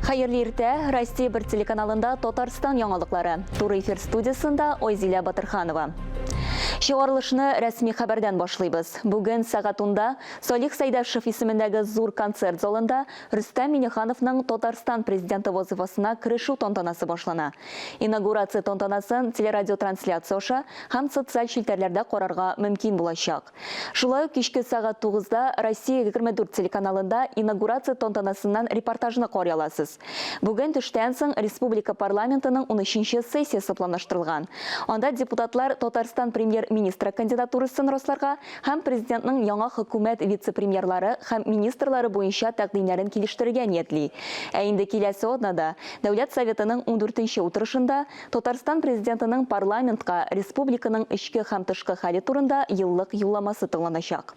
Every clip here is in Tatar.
Хәерле иртә, Россия бер телеканалында Татарстан яңалыклары. Туры эфир студиясендә Ойзилә Батырханова. Чыгарылышны рәсми хәбәрдән башлыйбыз. Бүген сәгатунда Салих Сәйдәшев исемендәге зур концерт залында Рөстәм Миңнехановның Татарстан Президенты вазыйфасына керешү тантанасы башлана. Инаугурация тантанасын телерадиотрансляция аша һәм социаль челтәрләрдә карарга мөмкин булачак. Шулай ук кичке сәгать тугызда Россия егерме дүрт телеканалында инаугурация тантанасыннан репортажны карый аласыз. Бүген төштән соң республика парламентының унөченче сессиясе планлаштырылган. Анда депутатлар Татарстан Премьер-министры кандидатурасын расларга һәм Президентның яңа Хөкүмәт вице-премьерлары һәм министрлары буенча тәкъдимнәрен килештерергә ниятли. Ә инде киләсе атнада, Дәүләт Советының ундүртенче утырышында, Татарстан Президентының парламентка республиканың эчке һәм тышкы хәле турында еллык юлламасы тыңланачак.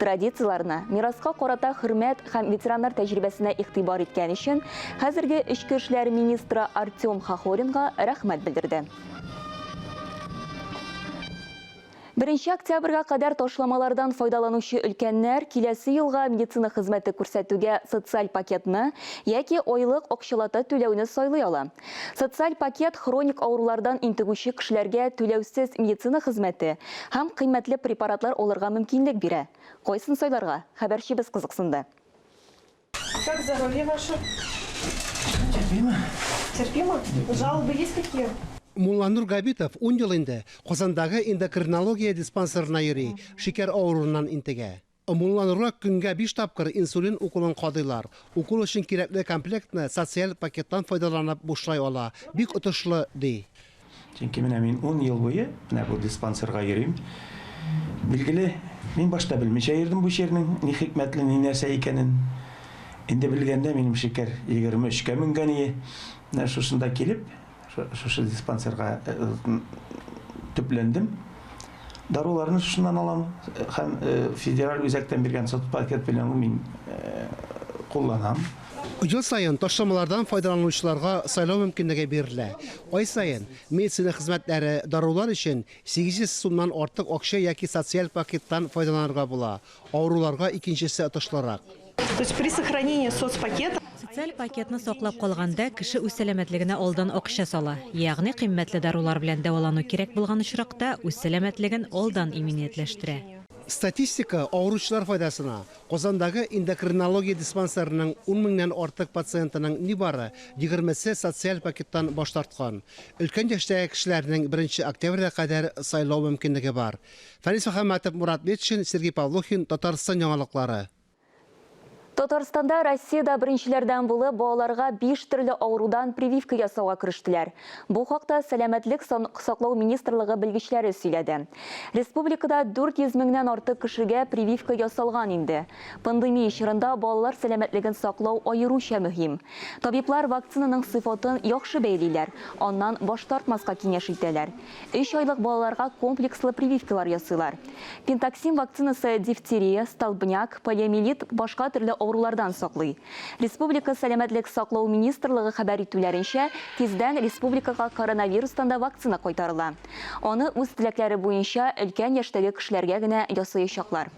Традицияләрне, мираска карата хөрмәт һәм ветераннар тәҗрибәсенә игътибар иткән өчен хәзерге эчке эшләр министры Артем Хохоринга рәхмәт белдерде. Беренче октябрьгә кадәр ташламалардан файдаланучы өлкәннәр киләсе елга медицина хезмәте күрсәтүгә социаль пакетны яки айлык акчалата түләүне сайлый ала. Социаль пакет хроник авырулардан интегүче кешеләргә түләүсез медицина хезмәте һәм кыйммәтле препаратлар алырга мөмкинлек бирә. Кайсын сайларга, хәбәрчебез кызыксынды. Как здоровье ваше? Терпимо. Терпимо? Жалобы есть какие? Мулланур Габитов ун ел инде Казандагы эндокринология диспансерына йөри, шикәр авыруыннан интегә. Омулланырга көнгә биш тапкыр инсулин уколын кадыйлар. Укол өчен кирәкле комплектны социаль пакеттан файдаланып бушлай ала. Бик отышлы, ди. Чөнки менә мин ун ел буе менә бу диспансерга йөрим. Билгеле, мин башта белмичә йөрдем бу чирнең ни хикмәтле, ни нәрсә икәнен. Инде белгәндә минем шикәр егерме өчкә менгән ие. Менә шушында килеп, Шушы диспансерга төпләндем. Даруларны шушыннан алам һәм федераль үзәктән биргән сотпакет белән мин кулланам. Ел саен ташламалардан файдаланучыларга сайлау мөмкинлеге бирелә. Ай саен медицина хезмәтләре, дарулар өчен 800 сумнан артык акча яки социаль пакеттан файдаланырга була. Авыруларга икенчесе отышлырак. То есть при сохранении соцпакета. Социаль пакетны саклап калганда, кеше үз сәламәтлегенә алдан акча сала. Ягъни кыйммәтле дарулар белән дәвалану кирәк булган очракта, үз сәламәтлеген алдан иминиятләштерә. Статистика авыручылар файдасына, Казандагы эндокринология диспансерының ун меңнән артык пациентының нибары егермесе социаль пакеттан баш тарткан. Өлкән яшьтәге кешеләрнең беренче октябрьгә кадәр сайлау мөмкинлеге бар. Фәнис Мөхәммәтов, Мурат Метшин, Сергей Павлухин, Татарстан яңалыклары. Татарстанда Россиядә беренчеләрдән булып балаларга биш төрле авырудан прививка ясауга керештеләр. Бу хакта Сәламәтлек саклау министрлыгы белгечләре сөйләде. Республикада 400 меңнән артык кешегә прививка ясалган инде. Пандемия чорында балалар сәламәтлеген саклау аеруча мөһим. Табиблар вакцинаның сыйфатын яхшы бәялиләр, аннан баш тартмаска киңәш итәләр. Өч айлык балаларга комплекслы прививкалар ясыйлар. Пентаксим вакцинасы дифтерия, столбняк, полиомиелит, башка төрле авырулардан саклый. Республика Сәламәтлек саклау министрлыгы хәбәр итүләренчә, тиздән республикага коронавирустан да вакцина кайтарыла. Аны үз теләкләре буенча өлкән яшьтәге кешеләргә генә ясаячаклар.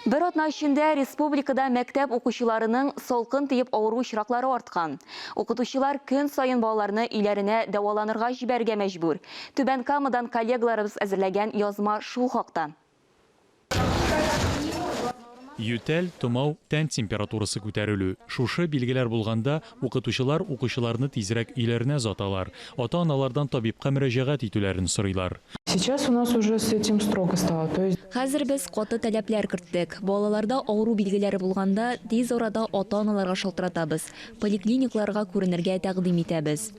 Бер атна эчендә республикада мәктәп укучыларының салкын тиеп авыру очраклары арткан. Укытучылар көн саен балаларны өйләренә дәваланырга җибәрергә мәҗбүр. Түбән Камадан коллегаларыбыз әзерләгән язма шул хакта. Ютәл, томау, тән температурасы күтәрелү, шушы билгеләр булганда, Укытучылар укучыларны тизрәк өйләренә озаталар, ата-аналардан табибка мөрәҗәгать итүләрен сорыйлар. Сейчас у нас уже с этим строго стало, то есть. Хәзер без каты таләпләр керттек. Балаларда авыру билгеләре булганда, тиз арада ата-аналарга шалтыратабыз, поликлиникларга күренергә тәкъдим итәбез.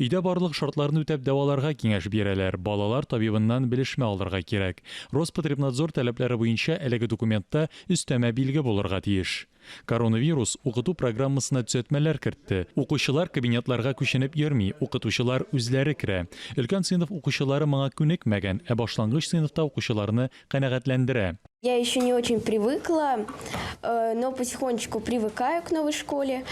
Өйдә барлык шартларны үтәп дәваларга киңәш бирәләр, балалар табибыннан белешмә алырга кирәк. Роспотребнадзор таләпләре буенча әлеге документта өстәмә билге булырга тиеш. Коронавирус укыту программасына төзәтмәләр кертте. Укучылар кабинетларга күченеп йөрми, укытучылар үзләре керә. Өлкән сыйныф укучылары моңа күнекмәгән, ә башлангыч сыйныфта укучыларны канәгатьләндерә. Я еще не очень привыкла, но потихонечку привыкаю к новой школе.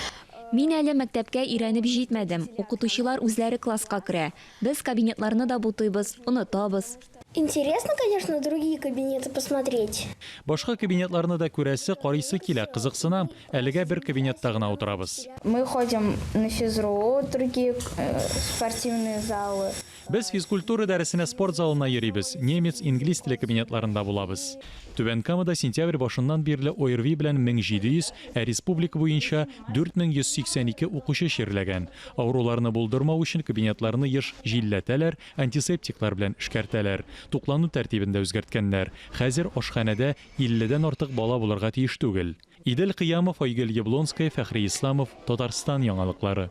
Мин әле мәктәпкә өйрәнеп җитмәдем, укытучылар үзләре класска керә. Без кабинетларны да бутыйбыз, онытабыз. Интересно, конечно, другие кабинеты посмотреть. Башка кабинетларны да күрәсе, карыйсы килә, кызыксына. Әлегә бер кабинетта гына утырабыз. Мы ходим на физру, другие э, спортивные залы. Без физкультура дәресенә спорт залына йөрибез, немец, инглиз теле кабинетларында булабыз. Түбән Камада сентябрь башыннан бирле ОРВИ белән 1700, ә республика буенча 4182 укучы чирләгән. Авыруларны булдырмау өчен кабинетларны еш җилләтәләр, Антисептиклар белән эшкәртәләр. Туклану тәртибен дә үзгәрткәннәр. Хәзер ашханәдә 50 дән артык бала булырга тиеш түгел. Идел Кыямов, Айгөл Яблонская, Фәхри Исламов, Татарстан яңалыклары.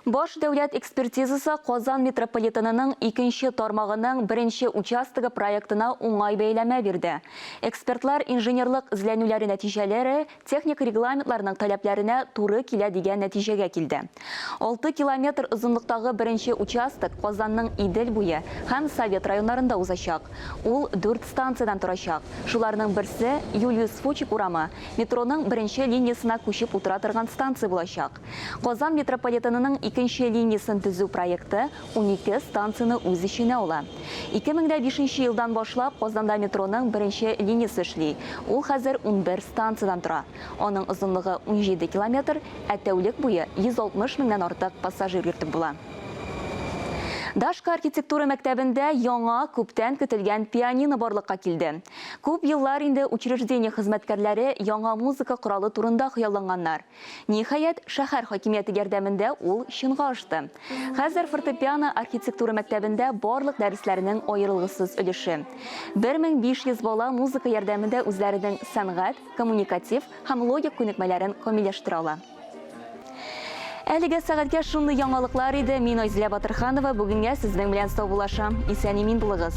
Баш дәүләт экспертизасы Казан метрополитенының икенче тармагының беренче участогы проектына уңай бәяләмә бирде. Экспертлар инженерлык эзләнүләре нәтиҗәләре техник регламентларның таләпләренә туры килә дигән нәтиҗәгә килде. Алты километр озынлыктагы беренче участок Казанның Идел буе һәм Совет районнарында узачак. Ул дүрт станциядән торачак, шуларның берсе, Юлиус Фучик урамы, метроның беренче линиясенә күчеп утыра торган станция булачак. Казан метрополитенының икенче линиясен төзү проекты унике станцияне үз эченә ала. Ике мең дә бишенче елдан башлап Казанда метроның беренче линиясе эшли, ул хәзер унбер станциядән тора. Аның озынлыгы унҗиде километр, ә тәүлек буе 160 меңнән артык пассажир йөртеп була. Дашка архитектура мәктәбендә яңа, күптән көтелгән пианино барлыкка килде. Күп еллар инде учреждение хезмәткәрләре яңа музыка коралы турында хыялланганнар. Ниһаять, шәһәр хакимияте ярдәмендә ул чынга ашты. Хәзер фортепиано архитектура мәктәбендә барлык дәресләрнең аерылгысыз өлеше. 1500 бала музыка ярдәмендә үзләренең сәнгать, коммуникатив һәм логик күнекмәләрен камилләштерә ала. Әлегә сәгатькә шундый яңалыклар иде. Мин Айзилә Батырханова бүгенгә сезнең белән саубуллашам. Исән-имин булыгыз.